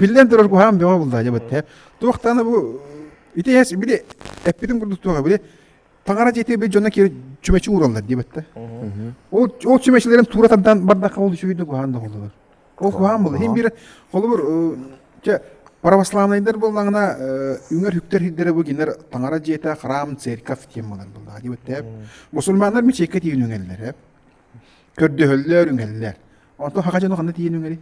Биллэн турар куһаҕан бөҕө булда дьабытта. Туохтана бу ити эс били эппитин курдук туоха били таҥара дьити бил дьоно киир чүмэчи уураллар дьабытта. Ол ол чүмэчилерин туура тардан бардахха ол үчүгүйдү куһаан да холлулар. Ол куһаан был. Хин бир холобур чэ православныйдар боллаңна үңөр хүктер хиддere бу гинер таҥара дьиэта храм церковь тем болар булла дьабытта. Мусульманнар мичекке тиин үңеллер. Көрдөһөллөр, үҥэллэр. Онтон хаха дьону ханна тиийэн үҥэри?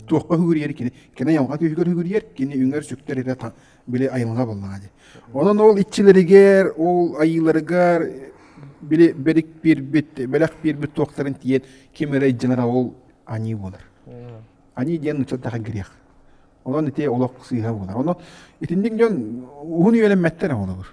Туохха үһүгүрүйэр кини? Кини айылҕа түһүгэр үһүгүрүйэр, кини үҥэр, сүктэр эрэ били айылҕа буоллаҕа дии. Онон ол иччилэригэр, ол айыыларыгар били бэрик биэрбит, бэлэх биэрбит туохтарын тиийэн ким эрэ илдьэнэрэ ол аньыы буолар. Аньыы диэн ыччаттарга грех. Онон ити олох сыыһа буолар. Ону итинник дьон уһун үйэлэммэттэр оҕолор.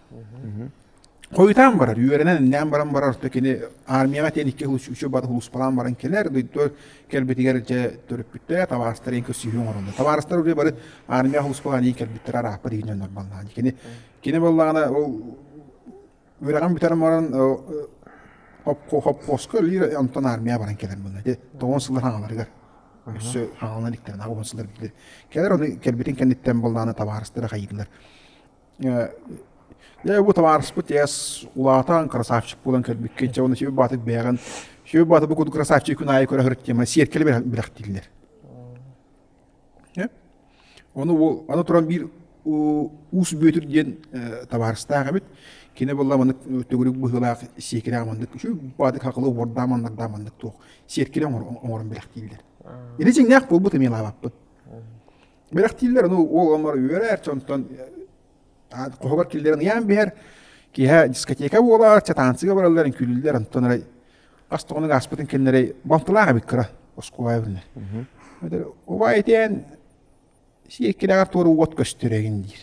Хойутаан барар, үөрэнэн иннээн баран барар, то кини армияҕа тиийэн икки үс үчү бары улууспалаан баран кэлэр, дойду кэлбитигэр дьэ төрүппүттэрэ табаарыстар иин көссүһүү оҥороллор. Табаарыстар уже бары армия улууспалаан иин кэлбиттэр арааппар иин өннөрбаллаан. Кини кини боллаана ол үрэҕин бүтэрэн баран хоппоска лир онтон армия баран кэлэр булна. Тоҕон сыллар хаҥаларыгар өссө хаҥалан иктэрин аҕа сыллар билдир. Кэлэр оны кэлбитин кэнниттэн боллаана табаарыстара хайыылар. Дьэ бу табаарыспыт эс улаатан красавчик буолан кэлбиккин чэ уонна сүбэ баатыт бэйэҕин сүбэ бааты бу курдук красавчик күн аайы көрө сырыттима сиэркэли бэлэхтииллэр ону ол аны туран биир уус бүөтүр диэн табаарыстаах эбит кини буолла маннык төгүрүк быһыылаах сиэкилээх маннык үчү баатык хакылы убордаа маннардаа маннык туох сиэркилэ оҥорон бэлэхтииллэр ити дьиҥнээх буолбут эмиэ лаабаппыт Бэлэхтииллэр, ну, ол омор үөрэр, онтон хоһугар киллэрэн ыйаан биһэр, киһэ дискотека буолар, чатаансыга бараллар, үҥкүүлүүллэр, онтон эрай хас тоҕонук ааспытын кэннэрэй бомтылаах эбит кыра Оскуобайбын. Убай этиэн сиэккилэҕэр туора уот көстөрөгүн диир.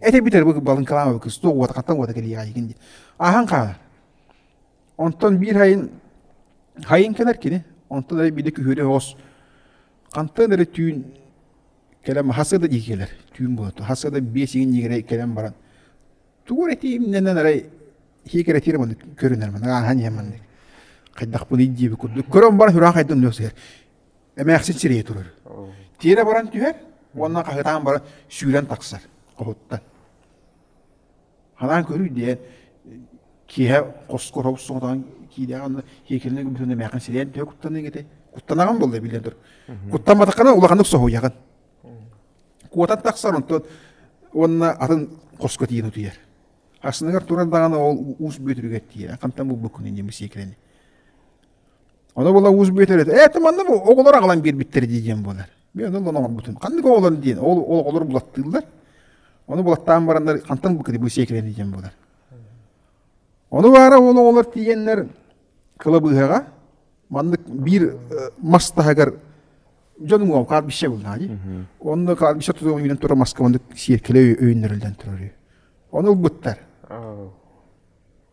Эти битэр бу балын калама бу кысту уот хаттан уота кэлиягин диир. Ахан хаанар. Онтон биир хайын хайын кэнер кини. Онтон ай биде күһүрэ хос хантан эрэ түүн кэлэн хас да дии кэлэр түүн буолуо хас да биэс иҥнигирэй кэлэн баран тугу эрэ тиимнэнэн арай хиикэрэтиир маннык көрүнэр маннык ааһан иһэн маннык хайдахпыный диэби курдук көрөн баран хураах айдан өлөсүһэр эмээхсин сирэйэ турар тиэрэ баран түһэр уонна хаһыытаан баран сүүрэн тахсар хоһуттан Ханаан көрүү диэн киэһэ хоско хоп соҥотоҕон киирээҕин хиэкилинэ гыммытын эмээхин сирэйэн төһө куттаныаҥ этэй? Куттанаҕын буолла билэн тур. Куттамматаххына улаханнык соһуйаҕын. Куотан тахсар онтон уонна атын хоско тиийэн утуйар. Астыныгар турар даҕаны ол уус бүөтүрүгэр тиийэр. Хантан булбуккун инньэ сиэкилэни. Ону була уус бүөтүр этэ, ээ ты манна оҕолор аҕалан биэрбиттэр дии диэн буолар. Мен ол оҥорбутум. Ханнык оҕолор диэн, ол ол оҕолор булаттыыллар. Оны булаттаан бараннар хантан бу кири сиэкирэн диэн болар. Оны баара ол оҕолор тиийэннэр кылабыыһаҕа маннык биир мас таһыгар дьонум ол каар бишсе булнади. Онно каар бишсе тутуон үйүнэн турар маска маннык сиэркилэ өйүннэриллэн турар. Оны ылбыттар.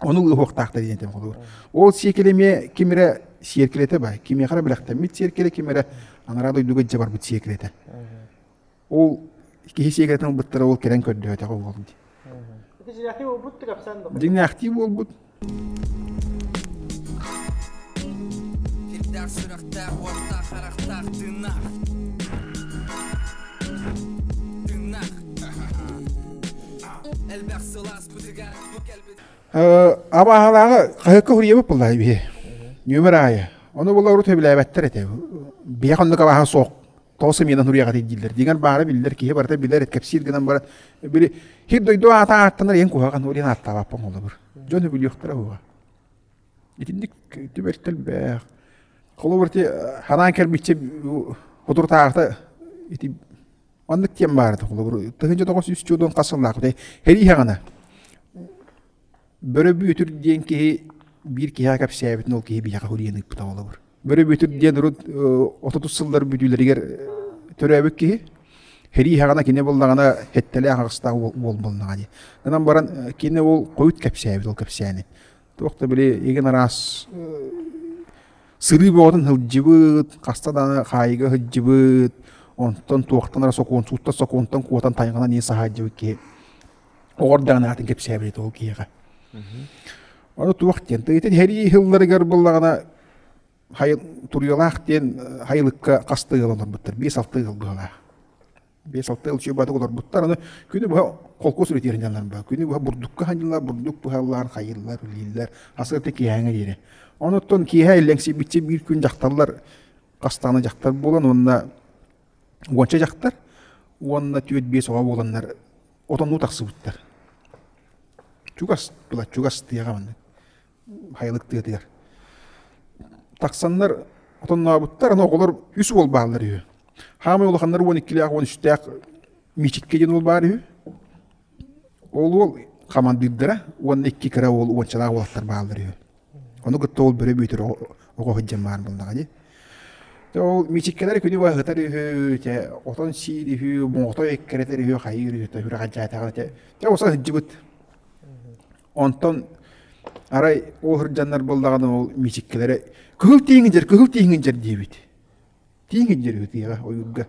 Ону ылыһыахтаахтар диэн этим холугур. Ол сиэкеле эмиэ ким эрэ сиэркилэтэ бай. Кимиэхэ бэлэхтэммит сиэркилэ, ким эрэ анараа дойдуга дьэ барбыт сиэркилэтэ. Ол киһи сиэркилэтин ылбыттара ол кэлэн көрдөһөтөх уолум дии. Дьиҥнээхтии буолбут тикапсан да. Дьиҥнээхтии буолбут. Сирдээх сүрэхтээх, уоттаах, харахтаах, тыыннаах. Тыыннаах. Элбэх сылаас бытыгар Абааһылааҕы хаһыакка суруйабыт буоллаҕа үһү. Нүөмэр аайы. Ону була урут сөбүлээбэттэр этэ. Биһэх оннук абааһа суох тоҕо сымыйанан суруйаҕытый дииллэр. Диҥэр баара биллэр, киһи барыта билэр, кэпсиир гынан баран били хир дойду аата ааттанар иэн куһаҕан уолуйан ааттаабаппын холобур. Дьон үбүлүөхтэрэ уһуга. Итинник түбэр төлбөөх. Холобур ти ханаан кэрмиччи хутуртаахта ити Оннук тиэн баарда холобур тыһынча тоҕус үс чудун хас сыллаахпытай хериһаҕана бөрө бүөтүр диэн киһи биир киһиэхэ кэпсээбитин ол киһи биһиэхэ хурийан ыыппыта холобур бөрө бүөтүр диэн урут отутус сыллар бүдүүлэригэр төрөөбүт киһи хериһаҕана кини буллаҕына хэттэлээх аҕыстаах уол буолнаҕа дии гынан баран кини ол хойут кэпсээбит ол кэпсээни Туох да били игин араас сырыы боҕотун сылдьыбыт, хаста да хаайыга сылдьыбыт, онтон туохтан эрэ сокуон, сууттан сокуонтан куотан тайҕанан иин саһаайдьыбыт киһи. Оҕор даҕаны аатын кэпсээбит ол киһиэхэ. Ону туох диэн, тыйытын иһэрии сылларыгар буллаҕына хайы, туруйалаах диэн хайылыкка хас да ыал олорбуттар, биэс-алта ыал быһалаах. биэс алта ылчыйбаты олорбуттар аны күнү быһа холкуос ретиринялар ба күнү быһа бурдукка хаһаннылар бурдук туһаллар хайыылар билииллэр асырты киһэҥэ диэри онуттан киэһэ иллэҥсийбиччэ биир күн дьахталлар хастааны дьахтар буолан уонна уонча дьахтар уонна түөрт биэс оҕо буоланнар отоннуу тахсыбыттар чугас тула чугас тыаҕа маннык Хайылык тыатыгар. Тахсаннар отоннообуттар, аны оҕолор үс уол бааллар үһү. Хаамай улаханнар уон иккилээх, уон үстээх Миичиккэ диэн уол баар үһү. Ол уол хамандыырдара уонна икки кыра уол уончалаах уолаттар бааллар үһү. Ону кытта ол бөрө бүйтэр оҕо сылдьан баар буоллаҕа дии. Дьэ ол Миичиккэлэр күнү быһа ыһытар үһү, чэ отон сиир үһү, моҕотой эккирэтэр үһү, хайыыр үһү, төһүрэх адьаатаҕа, чэ, чэ уса сылдьыбыт. Онтон арай ол сырдьаннар буоллаҕына ол миичиккилэрэ кыһыл тииҥинчэр, кыһыл тииҥинчэр диэбит. Тииҥинчэр ытыаҕа ойуурга.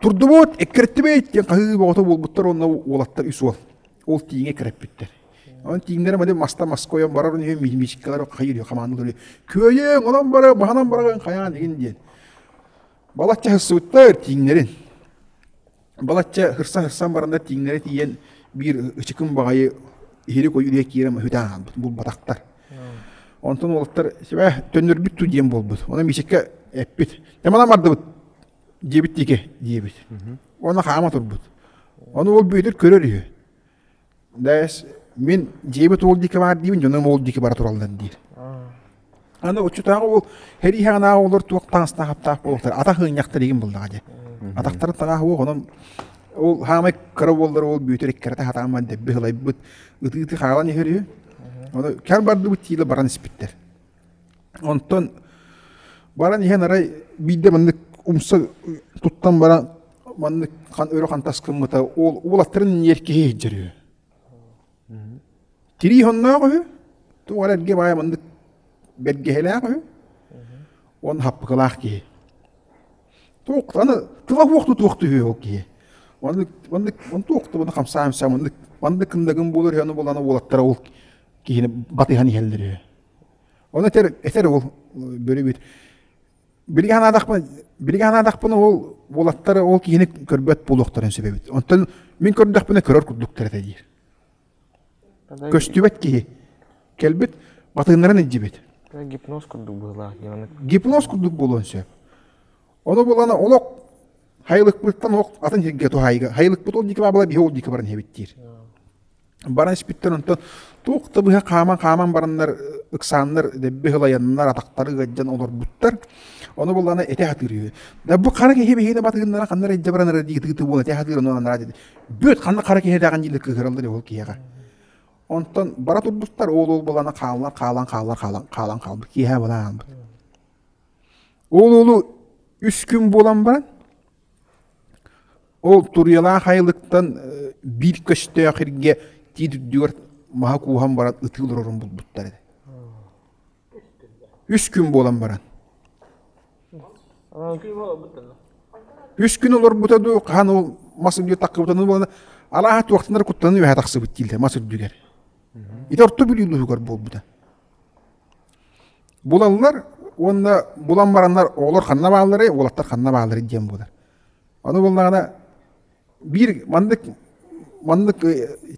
Турдубут, эккирэттибит диэн хаһыы боҕото буолбуттар уонна уолаттар үс уол. Ол тииҥэ эккирэппиттэр. Онон тииҥнэрэ бады маста мас койон барар үһү, миичиккилэр хайыыр хамаандалар күөйүөҥ, онон бара, баһанан бараҕын хайаан игин диэн. Балачча сыттар тииҥнэрин. Балачча һырсан-һырсан баранда тииҥнэрэ тиийэн биир ычыкым баҕайы иһири койуурга киирэн маһыытаан аһаабыт булбатахтар. Онтон уолаттар «Сибээ, төннөрбүт дуу?» диэн буолбут. Онон Миисикэ эппит «Да манан бардыбыт, диэбит диэки диэбит. Уонна хаама турбут. Ону уол бүөтүр көрөр үһү. Дээс, мин дьиэбит уол диэки баар диибин, дьонум уол диэки бара тураллар диир. Аны оччотааҕы ол хэрийһэҕинааҕы оҕолор туох таҥастаах-аптаах буолуохтар, атах ыанньахтар игин буллаҕа дьэ. Атахтарын таҥаах уох, онон ол хаамай кыра уоллар уол бүөтүр эккирэтэ хатааммат дэбби сылайбыт, ытыытыы хаалан иһэр үһү. Ону кэл бардыбыт диилэ баран испиттэр. Онтон баран иһэн арай биирдэ маннык умса туттан баран маннык өрө хантас гыммыта уол уолаттарын иэркиһи иһдьэр үһү. Тирии хонноох үһү, туох эрэ эргэ баайа маннык бэргэһэлээх үһү, уон хаппыкылаах киһи. Туох аны кылаһуох тутуох түһүө ол киһи. Маннык маннык туох да хамсаа-хамсаа маннык маннык кындагын буолар үһү аны булана уолаттара ол киһини батыһан иһэллэр үһү. Ону этэр, этэр ол бөрүбүт. Билигэ санаадахпын, билигэ санаадахпына ол уолаттары ол киһини көрбөт буолуохтарын сөбөбүт. Онтон мин көрдөхпүнэ көрөр курдуктар этэ диир. Көстүбэт киһи кэлбит, батыыннарын илдьибит. Гипноз курдук быһылаах. Гипноз курдук буолуон сөп. Ону булана олох Хайылыкпыттан ох атын сиргэ туһайга. Хайылыкпыт ол диэки бабала биһи ол диэки баран иһэбиттиир. Баран испиттэн онтон туох да быһа хааман-хааман бараннар ыксааннар дэбби һылайаннар атахтары ыгаддьан олорбуттар. Ону булана эте хатыыр үһү. Да бу хара киһи биһиэнэ батыгыннара ханна эддэ баран ара диитыты буолан эте хатыыр ону анараа dedi. Бүт ханна хара киһи даҕан диилэ кыһыраллар ол киһиэхэ. Онтон бара турбуттар ол ол булана хааллар хаалан хааллар хаалан хаалан хаалбыт киэһэ балаан Ол олу үс күн буолан баран, ол туруйалаах айылыктан биир көстөөх иргэ тиитирдүгэр маһа кууһан баран ытыы олорорун булбуттар еді. Үс күн буолан баран. Үс күн олорбута ду хаһан ол мас үрдүгэр таккыбытаны буолана алааһа туохтанар куттанын үһэ тахсыбыт тиилдэ мас үрдүгэр. Ити орто бүлүүлүһүгэр буолбута. булаллар уонна булан бараннар оҕолор ханна баалларай уолаттар ханна баалларай диэн буолар аны буоллаҕына биир маннык маннык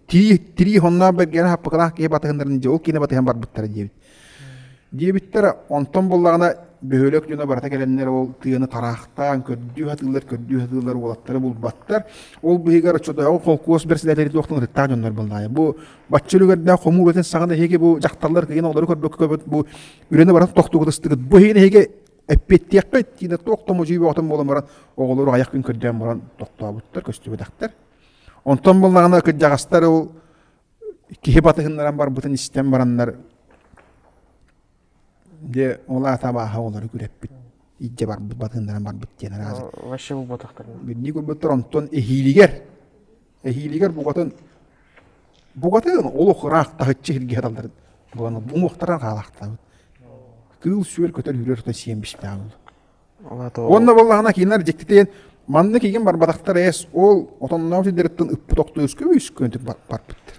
тирии тирии хонноох бэргээнэ хаппыкылаах киһи батыһыннарын дьэ ол киинэ батыһан барбыттара диэбит диэбиттэрэ онтон буллаҕына бөһүөлэк дьоно барата кэлэннэр ол тыаны тараахтаан көрдүү сатыыллар көрдүү сатыыллар уолаттары булбаттар ол быһыгар оччотооҕу холкуос бэрэссэдээтэлэ туохтан ырыттаах дьоннор буоллаҕа бу Бачча үлүгэрдээх хомуур этин саҕана эһиги бу дьахталлар кыйын оҕолору көрбөккө бу үрүнэ баран тохтугутустугут. Бу иһин эһиги эппиэттиэххэ тиинэ туох томожуй боҕотон буолан баран оҕолору айах күн көрдөөн баран тохтообуттар көстүбэтэхтэр. Онтон булнаҕына кырдьаҕастар ол киһи батыһыннаран барбытын истэн бараннар Дьэ ол аата абааһы оҕолору күрэппит, илдьэ барбыт батыыннаран барбыт диэн араазы. Вообще булбатахтарына. Бирдии көрбөттөр онтон эһиилигэр, эһиилигэр буҕатын буҕатын олох ыраахтаһыччы сиргэ талдарын бугана уҥуохтаран хаалахтабыт. Кыыл-сүөл көтөр-үрэр ото сиэн бишпээх болу. Уонна боллаҕына кинилэр дьиктитейэн манны кигин барбатахтар эс ол отонноох сирдeriттин ыппыт охто өскө үскөнтүк барпыттар.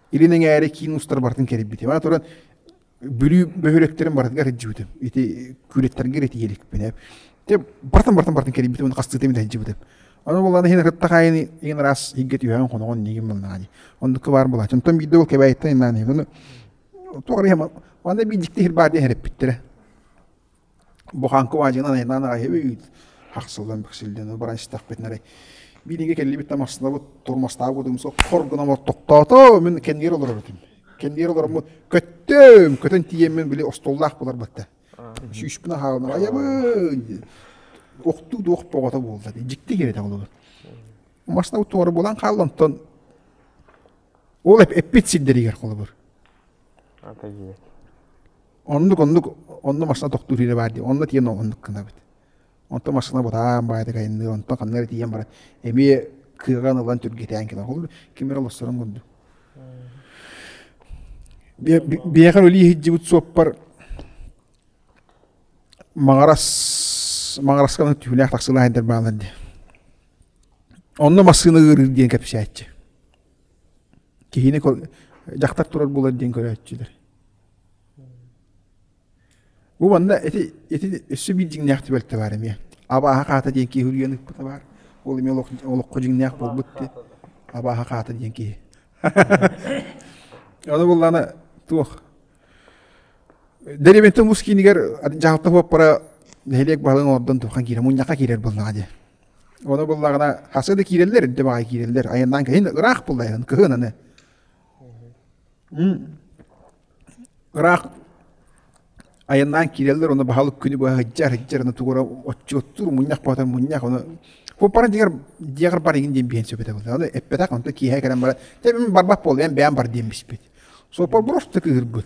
Илин эҥээри киин устар барытын кэрийбитим. Аны туран Бүлүү бөһүрөктөрүн барытын эрдьибитим. Ити күүлэттэргэ ити иһиликпинэ. Те бартан бартан бартан кэрийбитим, оны хастыытым эрдьибитим. Аны боллана иһин ырыттахайыны иһин араас иһиггэ түһэҕин хоноҕон нигим боллаҕани. Оннукка баар болаачын. Оттон биирдэ ол кэбээйиттэн иннаан иһин. Туох ариһама, анда биирдикте иһир баар диэн эрэппиттэрэ. Бу хаҥкы баадьыгынан айылаан аҕайабыт хахсыллан бэксиллэн ол баран истэхпит нары билиҥҥи кэллибит да массыынабыт турмастаабыт кудумсу хор гынан оттохтоото мин кэннигэр олорор этим кэннигэр олороммут көттүм көтөн тиийэммин били остуоллаах буларбыт да сүүспүн аһаалынан айабын охтуу да ох боҕото буолла дии дьикти кириэтэх олобут массыынабыт туора буолан хаалла онтон ол эппит сирдэригэр холобур Оннук оннук онно машина тохтуур иһинэ баар диэн онно тиийэн оннук гынабыт. Онтон машина бутаан баайдык айынныыр, онтон ханна эрэ тиийэн баран эмиэ кыаҕан ылан түргэтээн кэлэр. Ол ким эрэ олорсорун курдук. Биэхэр өлүү иһдьибит суоппар Маҕарас Маҕарасканың түһүлээх тахсыылаах эдэр баалар дии. Онно массыына ыырыыр диэн кэпсээччи. киһини дьахтар турар булар диэн көрөөччүлэр бу манна ити ити өссө биир дьиҥнээх түбэлтэ баар эмиэ абааһа хаата диэн киһи үрүйэн ыппыта баар ол эмиэ олоххо дьиҥнээх буолбут диэн абааһа хаата диэн киһи аны буллана туох деревентен мус киинигэр дьаһалта буоппара нэһилиэк баһылыгын ордон туххан киирэ мунньахха киирэр булнаҕа диэн Оны буллаҕына хасы да киирэллэр, инде баҕа киирэллэр. Айаннаан кэһин ыраах буллайын, кыһын аны. Ыраах айаннаан киирэллэр, оны баһалык күнү быһа һыддьар, һыддьар, аны тугура отчуоттуур, мунньах боһотор мунньах, оны Пуппаран дигэр дигэр барыгын диэн биһэн сөбөтө былы. Аны эппетах, онто киэһэ кэлэн бара, тэбим барбат буол, эн бэйэм бар диэн биспит. Сопа бұрысты кыһырбыт.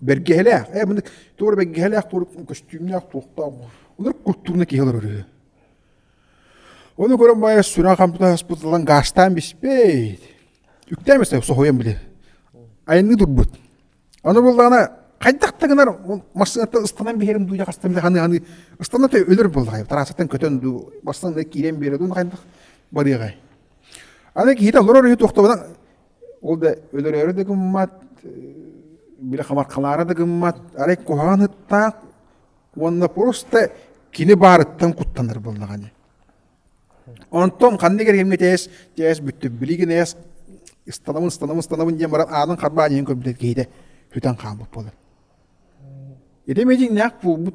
Бэргэһэлээх, э маны туора бэргэһэлээх туора көстүүмнээх туохтаах олор куттууна киһи олорор үһү. Ону көрөн баайа сүрэх хампыта хаспытылан гаастаан биспейт. Үктээн бэстэ соһуйан били. Айанныы турбут. Аны буллаана хайдах да гынар массыыната ыстанан биһэрим дуу хастан били ханы аны ыстанна та өлөр боллай тараасаттан көтөн дуу барсан да киирэн биэрэ дуу хайдах барыаҕай. Аны киһитэ олорор үһү туохтабана Ол да өлөрөөрү да гыммат, били хамархалаара да гыммат, арай куһаҕан ыттаах уонна просто кини баарыттан куттанар буоллаҕа ини. Онтон ханнык эрэ кэмҥэ тээс, тээс бүттүк, билигин эс ыстанабын, ыстанабын, ыстанабын диэн баран аанын харбаан иһин көрбүтэ киһитэ хүтэн хаалбыт буолар. Ити митиҥнээх буолбут.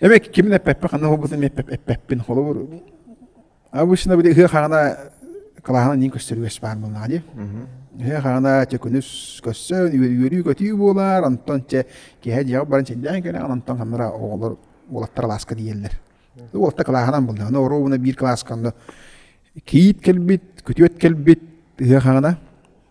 Эбек кимин эппеппе хана холбутун эппеппин холобур. Обычно били ыһы хаана калаһана нин көстөрүгөс баар болнаға ди. Ыһы хаана төкүнүс көссөн үөрүү көтүү буолар, антон че кеһе дьиэ баран чиллээн кэле антон ханнара оголор олаттар лааска диеллер. Уолта калаһанан булда. Аны оруубуна биир кылаасканна киит кэлбит, күтүөт кэлбит ыһы хаана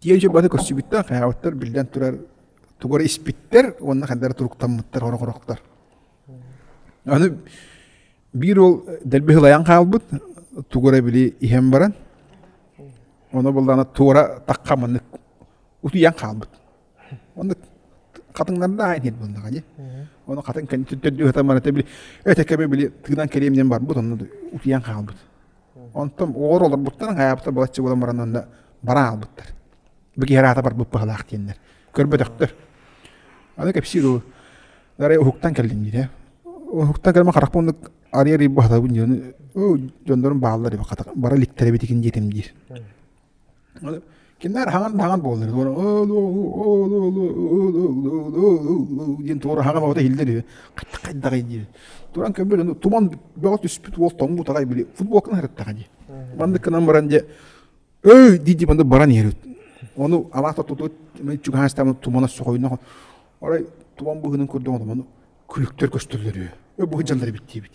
Тиийэ дьылбата көрсүбүттэр, хайаабыттар, биллэн турар, тугу эрэ испиттэр уонна хайдах эрэ туруктаммыттар хорох-хорохтор. Аны биир уол дэлби сылайан хаалбыт, тугу эрэ били иһэн баран, ону буллаҕына туора тахха маннык утуйан хаалбыт. Онно хатыҥнардаах диэн буоллаҕа дии. Ону хатыҥ кэнниттэн төрдү сатаммата били, эт кэми били тыынан кэриэминэн барбыт, онно утуйан хаалбыт. Онтон оҕор олорбуттарын аайбыта балачча буолан баран онно бара хаалбыттар. Бу киһи араата барбыт быһалаах диэннэр. Көрбөтөхтөр. Аны кэпсиир уу. Арай уһуктан кэллин диирэ. Уһуктан кэлмэ харахпын оннук арыйа арыйбы хатабын диэн дьоннорум бааллар бара иликтэрэбитин диэтим диир. Кинилэр хаҥан да хаҥан буоллар диэн туора хаҥан баҕата иһиллэр үһү хайдах хайдаҕый диир туран көрбөтө туман бөҕө түспүт уол тоҥмут аҕай били футболканы хараттаҕа дии маннык гынан баран дьэ өй дии дии маннык баран иһэр ону алаата тутут чугаһаастаан тумана соһойно арай туман быыһынан көрдөҕүнэ маны күлүктэр көстөллөр үһү бу сылдьаллар эбит диэбит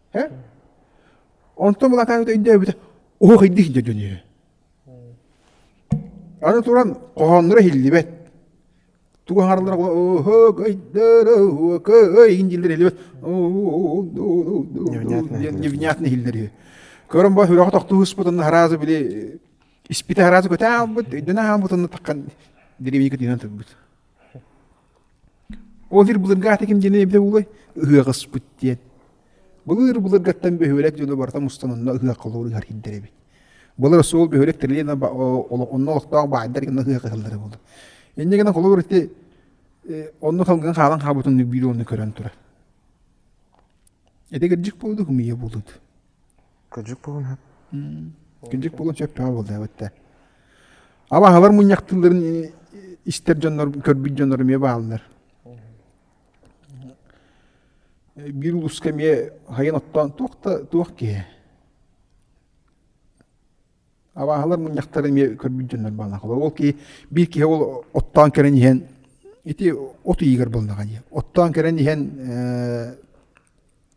Һэ? Онтон улаатаан өйдөөбүтэ, оһохайдых дэ дөнүө. Аны туран хоһоонноро иһиллибэт. Тугу аҥаралара невнятно иһиллэр үһү. Көрөн бо сүрэҕэ тохтуу ыспытын араазы били испитэ араазы көтө аалбыт, өйдөнө аалбытын таххан деревенька тыынан тылбыт. Ол сир былыргаата ким диэн эбитэ буолуой? Ыһыах ыспыт диэн. Былыр былыргаттан бөһүөлэк дьоно барыта мустан онно ыһыах холугур ыһар иһэрдэр эбит. Былыр суол бөһүөлэк тэрилинэ онно олохтоох баайдар гына ыһыах ыһаллара буолар. Инньэ гынан холобур ити онно салгын хаалан хаалбыт оннук биир онну көрөн турар. Ити кырдьык буоллук, умуйа буоллут. Кырдьык буолан сөп. Кырдьык буолан сөптөөҕө буоллаабыттар. Абаһалар мунньахтыылларын истэр дьоннор, көрбүт дьоннор эмиэ бааллар. Биир улууска эмиэ хайан оттоон туох да туох киһи абааһылар мунньахтара эмиэ көрбүт дьоннор бааллахалар. Ол киһи биир киһи ол оттоон кэлэн иһэн ити от ыйыгар буоллаҕа дии. Оттоон кэлэн иһэн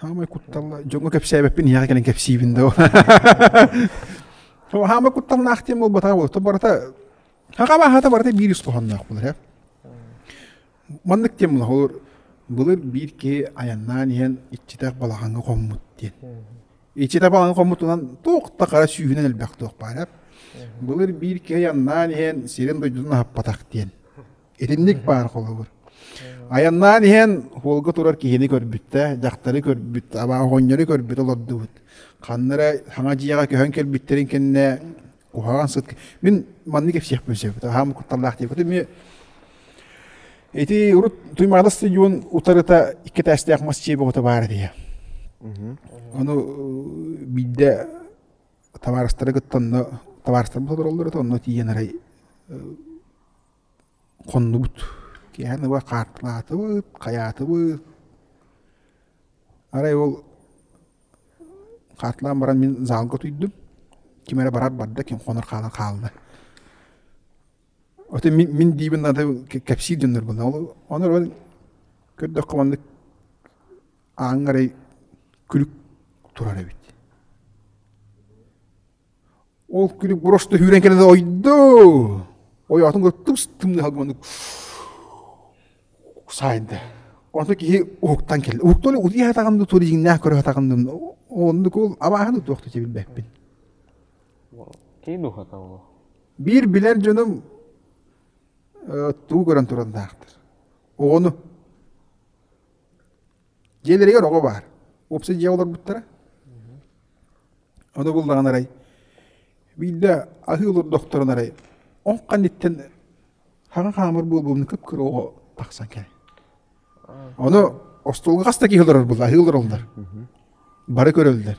Хаамай кутталла дьоҥҥо кэпсээбэппин ийэҕэ кэлэн кэпсиибин да Хаамай кутталлаах диэн буолбатаҕа буолуо барыта хахабааһата барыта биир ис хоһоонноох буолар ээ маннык диэн булаһылыр былыр биир киһи айаннаан иһэн иччитэх балаҕаҥҥа хоммут диэн иччитэх балаҕаҥҥа хоммутунан туох да хара сүүһүнэн элбэх туох баарар былыр биир киһи айаннаан иһэн сирин дойдутун аһаппатах диэн Итинник баар холобур. Айаннаан иһэн холга турар киһини көрбүттэ, дьахтары көрбүт, аба оҕонньору көрбүт олордубут. Ханна эрэ саҥа дьиэҕэ көһөн кэлбиттэрин кэннэ куһаҕан сыт мин маннык кэпсиэхпин сөп. Аһаам кутталлаах диэбит. Эмиэ ити урут Туймаада стадион утарыта иккитээстээх мас дьиэ бөҕөтө баар этиэ. Ону биирдэ табаарыстары кытта онно табаарыстарбыт олороллор онно тиийэн арай Хоннубут киэһэн ыла хаартылаатыбыт, хайаатыбыт. Арай ол хаартылаан баран мин заалга утуйдум. Ким эрэ барар барда, ким хонор хаалан хаалла. Атын мин мин диибин аты кэпсиир дьоннорбун. Ону эрэн көрдөххө маннык ааҥҥа эрэй күлүк турар эбит. Ол күнүк бороста сүүрэн кэлэн ойду ойоотун ыттым тымныы салгыманнык саайда. Онто киһи уһуктан келде. Уһуктан утуйа хатаҕынды тури жиҥнээх көрө хатаҕынным. Оннук ол абааһыны туохта билбэппин. Киин ухата ол. Биир билэр дьонум э, туу көрөн туран таахтар. Оҕону Дьиэлэригэр оҕо баар. Уопсай дьиэ олорбуттара. Ону буллаҕын арай биирдэ аһыы олордохторуна арай ол канниттан хаҥа хаамар буолбумун кып-кыра оҕо тахсан кэлэн. Ону остуолга хас да киһи олорор буолла аһыы олороллор. Бары көрөллөр.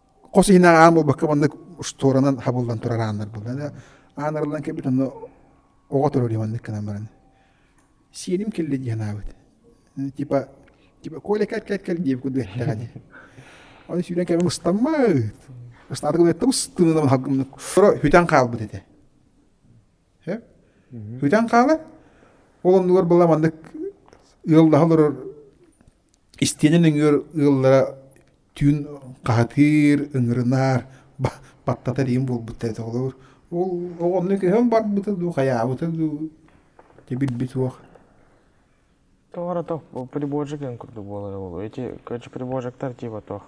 хос иһинэн аан буолбакка маннык штуранан хабыллан турар ааннар буолла. Аанарыллан кэлбит онно оҕо турар маннык гынан баран. Сиэним келли дии санаабыт. Типа типа Коля кэл кэл кэл диэбит курдук эттэҕэ дии. Ону сүүрэн кэлэн ыстаммыт. Ыстаата гынатта ыстынынан хагымнык. Торо хүтэн хаалбыт этэ. Хэ? Хүтэн хаала. Ол оннугар была маннык ыаллаһа олорор истиэнэ нөҥүөр ыаллара түүн хаһытыыр, ыҥырынаар, баттатар иһин буолбуттар этэ холобур. Ол онно көһөн барбыта дуу, хайаабыта дуу дьэ билбит суох. Тоҕо туох приборщигын курдук буолара буолуо. Эти, короче, приборщиктар типа туох.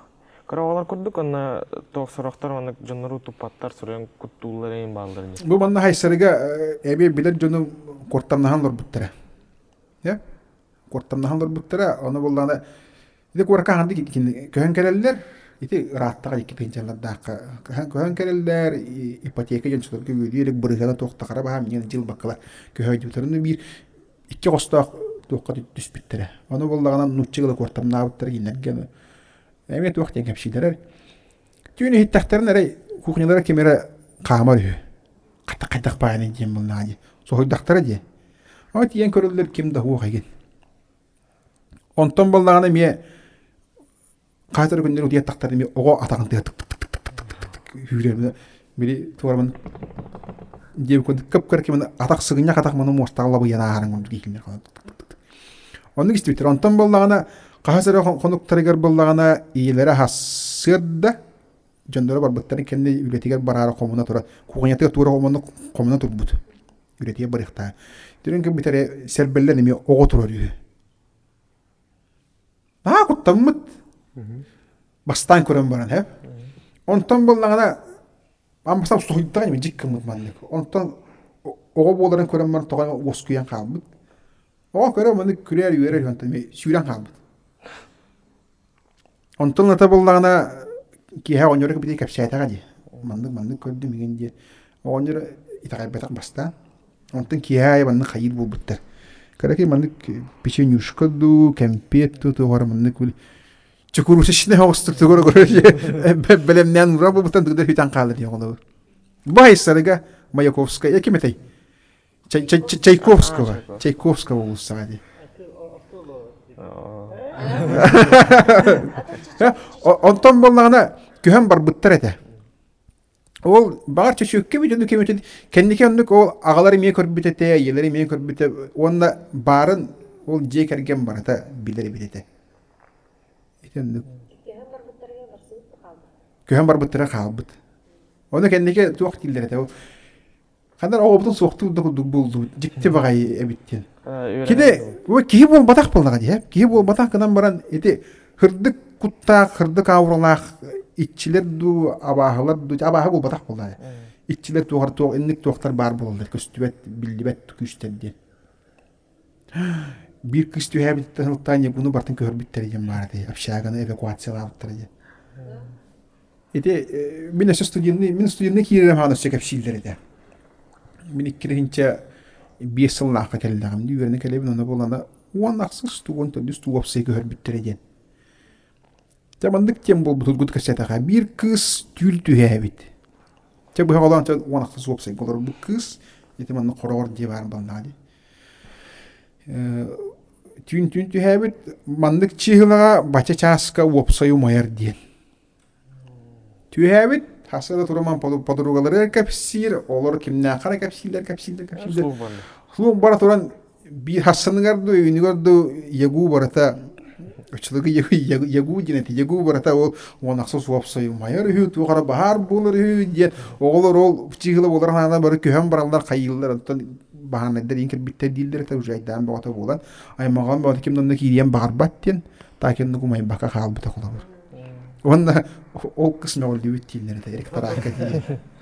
Кыраҕалар курдук онно туох сорохтор маннык дьоннору туппаттар суруйан куттууллар иһин баалларын дии. Бу манна хайсарыга эбиэ билэр дьону куортамнаһан олорбуттара. Э? куортамнаһан көрбүттэрэ ону буоллаҕына ити куоракаан көһөн кэлэллэр ити ырааттаҕа икки тыһыынчалардаахха көһөн кэлэллэр ипотека дьон сыларга үөдүү илик бырыһыана туохтахара баһа миниэн дьыл баккала көһөйдүбүтэрин биир икки оҕостоох туохха түспүттэрэ ону буоллаҕына нуучча ыла куортамнаабыттара кинилэргэ эмиэ туох диэн кэпсиилэрэр түүн иһиттэхтэринэ эрэй кухнялара ким эрэ хаамар үһү хата хайдах баайаный диэн булнаҕа дии соһуйдахтара дии о тиийэн көрөллөр ким да уох игин онтон баллаҕына эмиэ хаатар күннэр утуйаттахтар эмиэ оҕо атаҕын тыа тык тык тык тык тык үүрэр били туорамын диэбит курдук кып кыр кимин атах сыгынньах атах маны муостаҕа лабыйан ааһарын курдук иикиннэр оннук истибиттэр онтон баллаҕына хаһыс эрэ хонуктарыгар баллаҕына ийэлэрэ аһассыар да дьонноро барбыттарын кэннэ үлэтигэр бараары хомуна турар кухнятыгар туора хомуна хомуна турбут үлэтигэр барыахтаа түрүн ким бүтэрэ сербеллен эми оҕо турар үһү аа куттаммыт бастаан көрөн баран һэ онтон быллаҕына амбасап суһуйдаҕа ими дьиккыммыт маннык онтон оҕо буоларын көрөн баран тоҕо уоскуйан хаалбыт оҕо көрө маннык күрээр үөрэр онтон сүүрэн хаалбыт Онтон ата буллаҕына киэһэ оҕонньору кэпитии кэпсээтэҕэ дии. Маннык маннык көрдүм игин диэ. Оҕонньор итэҕэйбэтэх бастаан. Онтон киэһэ аайы маннык хайыыр буолбуттар. Кыракый маннык печенюшка дуу, кэмпиэт дуу туоһура маннык били чекурусечнай оҕустук тугура бэлэмнээн ураа буолбуттан дыгда хүтэн хаалар диэн олобу. Бу айсарыга Маяковская ким этэй? Чайковского, Чайковского уулуссаҕа дии. Онтон буоллаҕына күһэн барбыттар этэ. Ол баҕар чөчүөккэ бүт ону кэмитин кэнники оннук ол аҕалар эмиэ көрбүт этэ, ийэлэр эмиэ көрбүт этэ уонна баарын ол дьиэ кэргэн барыта билэр эбит этэ. Ити оннук. Күһэн барбыттара хаалбыт. Ону кэнники туох дииллэр этэ ол Ханна оҕобутун суохтук да курдук буллубут. Дьикти баҕайы эбиттин. Кини киһи буолбатах буоллаҕа дии. Киһи буолбатах гынан баран ити хырдык куттаах, хырдык ауралаах иччилэр дуу, абааһылар дуу, абааһы буолбатах буоллаҕа. Иччилэр туохар туох инник туохтар баар буолаллар көстүбэт, биллибэт күүстэр диэн. Биир кыыс түһээбиттэ сылтаан Ньургуну бартын көһөрбүттэрэ диэн баара дии, общаганы эвакуациялаабыттара диэн. Ити э, мин өссө студенный, мин студенный киирэрим хаан өссө кэпсииллэр этэ. Мин иккиһинчэ биэс сыллаахха кэллэҕим дии, үөрэнэ кэлэбин, ону буолана уон ахсыс, уон төрдүс туу уопсай көһөрбүттэрэ диэн. Чэ маннык тем буолбутургут кэсэтэҕэ биир кыыс түүл түһээбит. Чэ быһа олоон чэ уонахтас уопсайга олорбут кыыс ити манна хороҕор дьиэ баарын балнаҕа дии. түүн түүн түһээбит маннык чыыһылаҕа бача чааска уопсай умайар диэн. Түһээбит хаса да туруман подругалары кэпсиир, олор кимнээххэ кэпсииллэр кэпсииллэр кэпсииллэр. Слух бара туран Биир хасsaныгар да үүнүгэр да ягу барыта Чылыгы ягу диэн эти ягу барыта ол уонахса суопсайымайар үһү туохара баһаар буолар үһү диэн оҕолор ол психила болар хаана бары көһөн бараллар хайыыллар оттон баһаанайдар иин кирбиттэр дииллэр это уже айдаан боҕото буолан аймаҕан боҕото ким нанна киириэн баҕарбат диэн таакинны кумайбака хаалбыта холобур уонна ол кыс мөҕүлдүбүт дииллэр это эрик тараака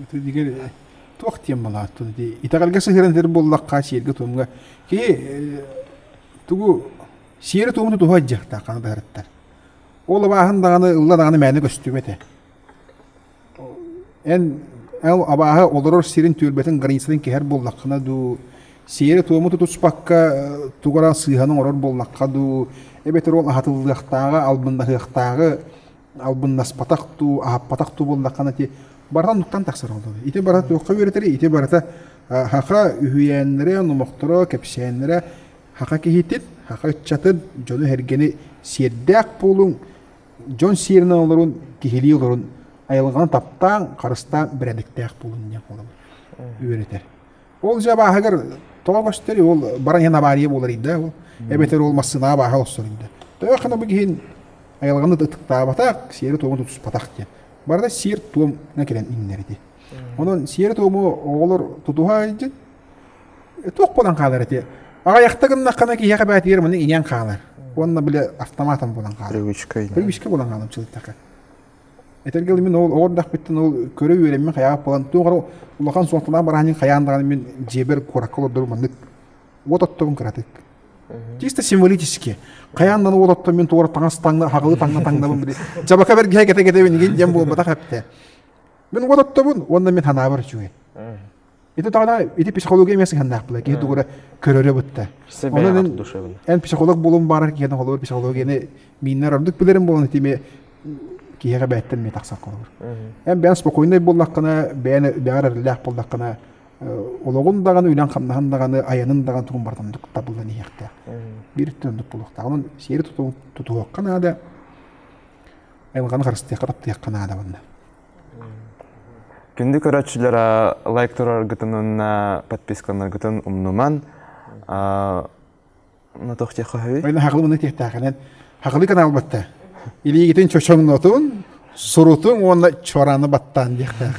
Итигир туох диэн балаат туну дии итэҕэлгэ сыһыаран сир буоллахха сиэргэ туомга кии тугу сиэрэ туомну туһа дьахта хана дыһарыттар ол абааһын даҕаны ылла даҕаны мээнэ көстүбэтэ эн абааһы олорор сирин түөлбэтин границатын кэһэр буоллаххына дуу сиэрэ туому тутуспакка тугара сыыһаны оҥорор буоллахха дуу эбэтэр ол аһатыллыахтааҕы албыннаһыахтааҕы албыннаспатах дуу, аһаппатах дуу буоллаххына ити барытын туттан тахсар олоро. Ити барата туохха үөрэтэри, ити барата хаха үһүйээннэрэ, номохторо, кэпсээннэрэ хаха киһитин, хаха ыччатын, дьону-сэргэни сиэрдээх буолуҥ, дьон сиэринэн олорун, киһилии олорун айылҕаны таптааҥ, харыстааҥ, бэрээдэктээх буолун диэн буолабыт үөрэтэр. Ол дьэ абааһыгар тоҕо көстөр ол баран иһэн авария буоларыйда ол эбэтэр ол массыына абааһы олсоруйда. Төһө хана бу киһин айылҕаны ытыктаабатах, сиэрэ-туому тутуспатах диэн. Барда сиэр-туом кэлэн иннэрити. Онон сиэрэ-туому оҕолор тутуһа айдьын, туох буолан хаалар эти? Аҕайахта гыннаххына киһиэхэ бээтигэр маны иниэн хаалар. Уонна били автоматом буолан хаалар. Привычка. Привычка буолан хаалар чылыттаха. Этэргэ мин ол оҕо эрдэхпиттэн ол көрө үөрэммин хайаҕа буолан туох эрэ улахан суолталаах барааһын хайаан даҕаны мин дьиэбэр куоракка олордорум маннык уот оттобун кыратык. Чисто символически. Хайаан да уот отто мин туора таҥас таҥна хаҕылы таҥна таҥнабын били. Дьабака бэргэһэ кэте кэтэбин игин диэн буолбатах эптэ. Мин уот оттобун уонна мин ханаабар үчүгэй. Ити тоҕана ити психология эмиэ сыһыаннаахпыла киһи тугура көрөрө бытта. Онон эн психолог буолуон баарар киһинэн холобур психологияны мииннэр ордук билэрим буолан итими киһиэхэ бэйэттэн эмиэ тахсан холобур. Эн бэйэн спокойнай буоллаххына, бэйэн бэҕэр эрэллээх буоллаххына, олоҕун даҕаны, үлэҥ-хамнаһын даҕаны, айанын даҕаны тугун барытын табыллан иһиэхтээх. Биир өттүн оннук буолуохтаах. Онон сиэри тутуһуохха наада, айылҕаны харыстыахха, таптыахха наада манна. Күндү көрөөччүлэрэ лайк тураргытын уонна подпискаланаргытын умнуман но туох диэххэ Ойна хақылыбыны тиэттааханан хақылы канал батта илиигитин чочоҥнотун сурутун уонна чораны баттаан диэхтээх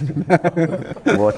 вот